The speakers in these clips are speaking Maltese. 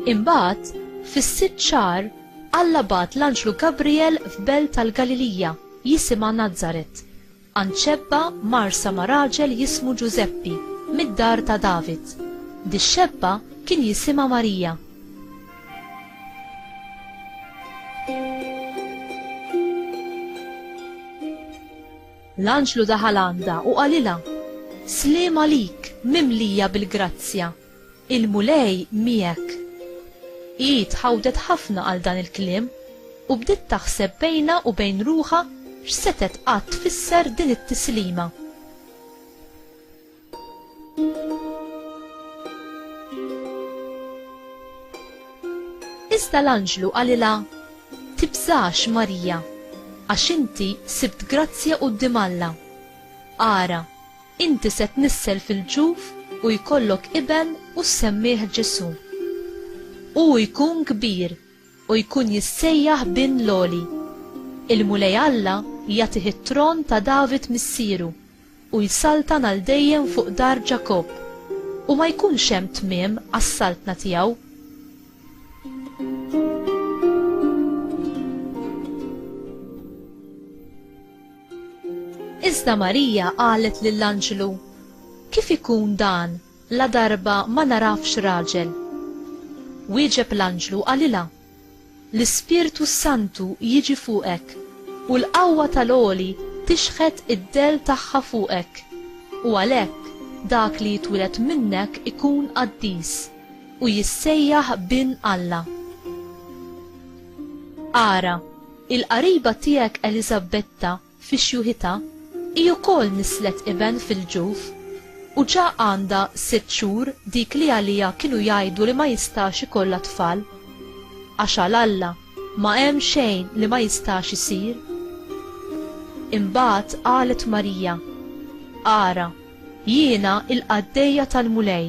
Imbagħad, fis-sitt xahar, Alla bat l-anġlu Gabriel f'belt tal-Galilija, jisimha Nazaret, Anċebba marsa ma' raġel jismu Ġużeppi, mid-dar ta' David. Dix-xebba kien jisimha Marija. L-anġlu daħal għandha u qalilha, Sliem għalik, mimlija bil-grazzja, Il-Mulej miegħek. Hi tħawdet ħafna għal dan il-kliem u bdiet taħseb bejnha u bejn ruħha x'setgħet qatt tfisser din it-tislima. Iżda l-anġlu qalilha, Tibżax, Marija, għax inti sibt grazzja quddiem Alla. Ara, Inti se tnissel fil-ġuf u jkollok iben u ssemmih Ġesù. Hu jkun kbir u jkun jissejjaħ Bin l-Għoli. Il-Mulej Alla jagħtih it-tron ta' David missieru u jsaltan għal dejjem fuq dar Ġakobb, u ma jkunx hemm tmiem għas-saltna tiegħu. Iżda Marija qalet lill-anġlu, Kif ikun dan, ladarba ma nagħrafx raġel? Wieġeb l-anġlu qalilha, L-Ispirtu s-Santu jiġi fuqek, u l-qawwa tal-Għoli tixħet id-dell tagħha fuqek, u għalhekk dak li jitwieled minnek ikun qaddis, u jissejjaħ Bin Alla. Ara! Il-qariba tiegħek Eliżabetta fi xjuħitha hi wkoll nisslet iben fil-ġuf u ġa għandha sitt xhur dik li għaliha kienu jgħidu li ma jistax ikollha tfal. Għax għal Alla ma hemm xejn li ma jistax isir. Imbagħad qalet Marija, Ara, jiena l-qaddejja tal-Mulej,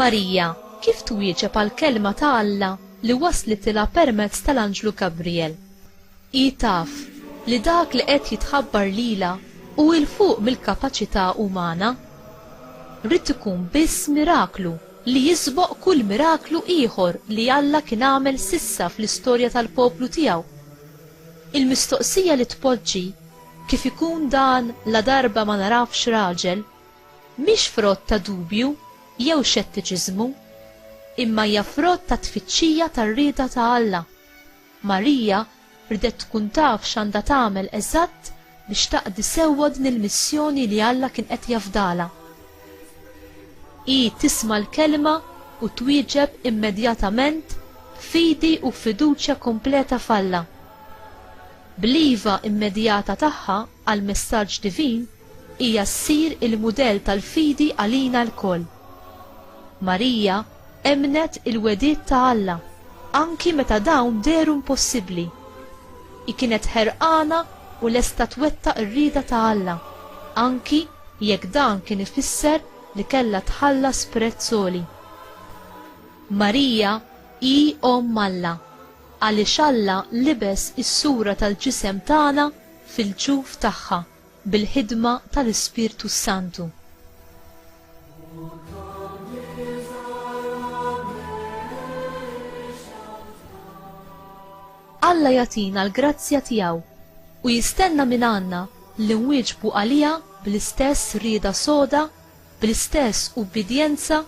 Marija kif twieġeb għall-kelma ta' Alla li waslitilha permezz tal-anġlu Gabrijel? Hi taf li dak li qed jitħabbar lilha hu 'l fuq mill-kapaċità umana. Ried ikun biss miraklu li jisboq kull miraklu ieħor li Alla kien għamel s'issa fl-istorja tal-poplu tiegħu. Il-mistoqsija li tpoġġi, Kif ikun dan ladarba ma narafx raġel? Mhix frott ta' dubju jew xettiċiżmu, imma hija frott tat-tfittxija tar-rieda ta' Alla. Marija rdet tkun taf x'għandha tagħmel eżatt biex taqdi sewwa din il-missjoni li Alla kien qed jafdalha. Hi tisma' l-Kelma u twieġeb immedjatament b'fidi u b'fiduċja kompleta f'Alla. Bl-iva immedjata tagħha, għall-messaġġ divin hija ssir il-mudell tal-fidi għalina lkoll. Marija emmnet il-wegħdiet ta' Alla anki meta dawn dehru impossibbli. Hi kienet ħerqana u lesta twettaq ir-rieda ta' Alla, anki jekk dan kien ifisser li kellha tħallas prezz għoli. Marija hi Omm Alla għaliex Alla libes is-sura tal-ġisem tagħna fil-ġuf tagħha bil-ħidma tal-Ispirtu s-Santu. Alla jagħtina l-grazzja tiegħu u jistenna mingħandna li nwieġbu għaliha bl-istess rieda soda, bl-istess ubbidjenza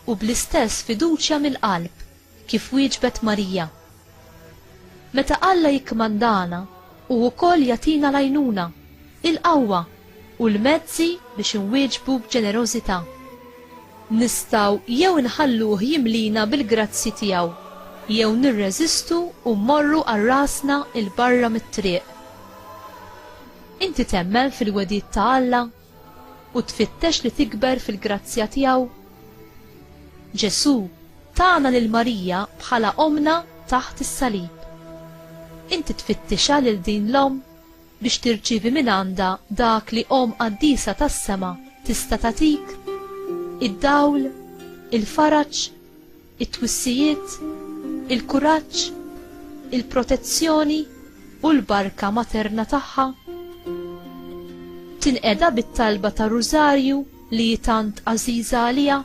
u bl-istess fiduċja mill-qalb. Kif wieġbet Marija? Meta Alla jikkmandana, hu wkoll jagħtina l-għajnuna, il-qawwa, u l-mezzi biex inwieġbu b'ġenerożità. Nistgħu jew inħalluh jimlina bil-grazzji tiegħu, jew nirreżistu u mmorru għal rasna 'l barra mit-triq. Inti temmen fil-wegħdiet ta' Alla? u tfittex li tikber fil-grazzja tiegħu? Ġesù tana lil Marija bħala ommna taħt is-salib. Inti tfittixha lil din l-omm biex tirċievi mingħandha dak li omm qaddisa tas-sema tista' tagħtik? Id-dawl? Il-faraġ? it-twissijiet, il-kuraġġ, il-protezzjoni u l-barka materna tagħha. Tinqeda bit-talba ta' Rużarju li hi tant għażiża għaliha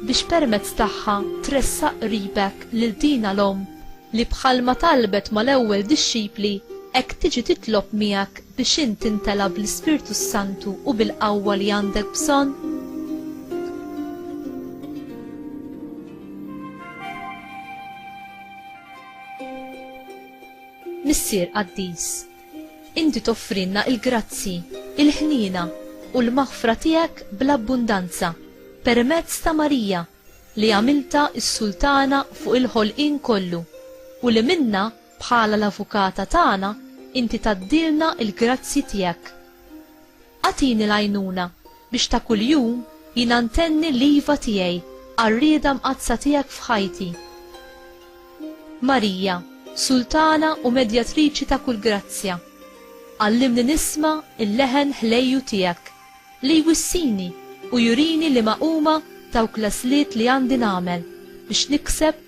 biex permezz tagħha tressaq qribek lil dina l-omm li bħalma talbet mal-ewwel dixxipli hekk tiġi titlob miegħek biex int timtela bl-Ispirtu s-Santu u bil-qawwa li għandek bżonn? Missier qaddis, inti toffrilna l-grazzji, il-ħniena u l-maħfra tiegħek bl-abbundanza permezz ta' Marija li għamiltha s-Sultana fuq il-ħolqien kollu u li minnha Bħala l-Avukata tagħna inti tgħaddilna l-grazzji tiegħek. Agħtini l-għajnuna biex ta' kuljum jiena ntenni l-iva tiegħi għar-rieda mqaddsa tiegħek f'ħajti. Marija, Sultana u Medjatriċi ta' kull grazzja, għallimni nisma' l-leħen ħlejju tiegħek li jwissini u jurini liema huma dawk l-għażliet li għandi nagħmel biex nikseb